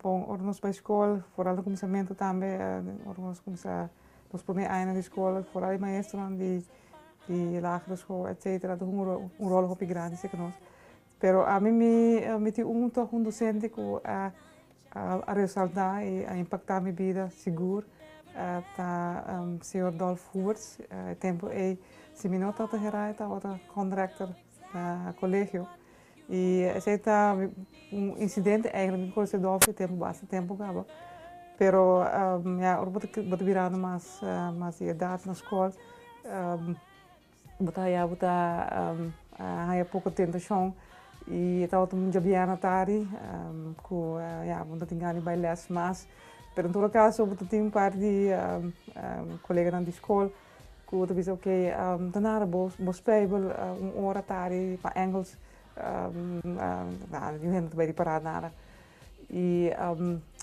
ora nos bai skol foral di kuminsamentu tambe ora nos kumsa nos prome aña di skol foral di maestronan di di lagere skol etcetera a huma un ròl hopi grandi seki nos pero ami mi tin un tòg un dosente ku a a resaltá i a impaktá mi bida sigur ta señor Dolf Huberts e tempu ei si mi no tabata hera e tabata kondrekter na kolegio. I esei ta un insidente mi ta kos edor fu tempu basta tempu kaba pero ya ora bo ta birando mas di edad na skol bo ta haya bo ta haya poko tentashon i e tabata mucha biaha na tardi ku ya bo no ta tin gana di bai lès mas pero en todo kaso bo ta tin un par di koleganan di skol. Ku ta bisa, Oke, ta nada bo bo speibel un ora tari pa Engels. Nada, yu hende no ta bai ripará nada. I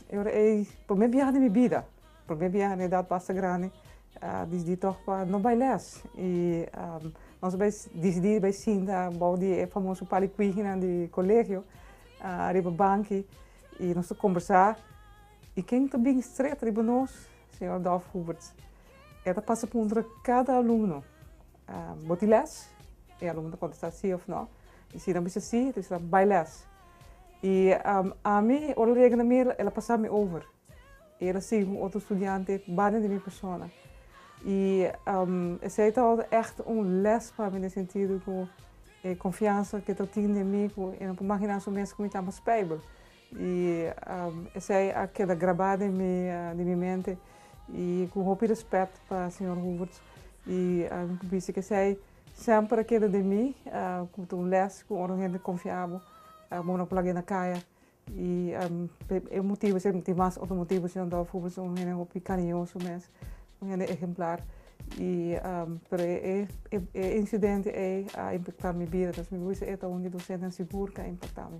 e ora ei promé biaha di mi bida, promé biaha na edat basta grandi, disidí tòg pa no bai lès. I nos a bai disidí bai sinta bou di e famoso palikuihinan di kolegio, riba banki, i nos ta kombersá. I ken ta bini stret riba nos? Señor Dolf Huberts. E ta pasa puntra kada alumno, Bo tin lès? E alumno ta kontestá sí òf nò. I si nan bisa sí, e ta bisa, Bai lès. I ami, ora el yega na mi, el a pasá mi over. I el a sigui ku un otro studiante banda di mi persona. I esei ta ègt un lès pa mi den sentido ku e konfiansa ku e ta tin den mi, ku e no por maginá su mes ku mi ta mas pèibel. I esei a keda grabá den mi den mi mente i ku hopi rèspèt pa señor Hooverts i mi por bisa ku esei semper a keda den mi ku ta un lès ku ora un hende konfiá bo bo no por laga e na kaya i e motibu esei i mas otro motibu señor Dolf Hooverts un hende hopi kariñoso mes. Un hende ehemplar i pero e insidente ei a impactá mi bida entonces mi por bisa e ta un di dosentenan sigur k'e impactá mi.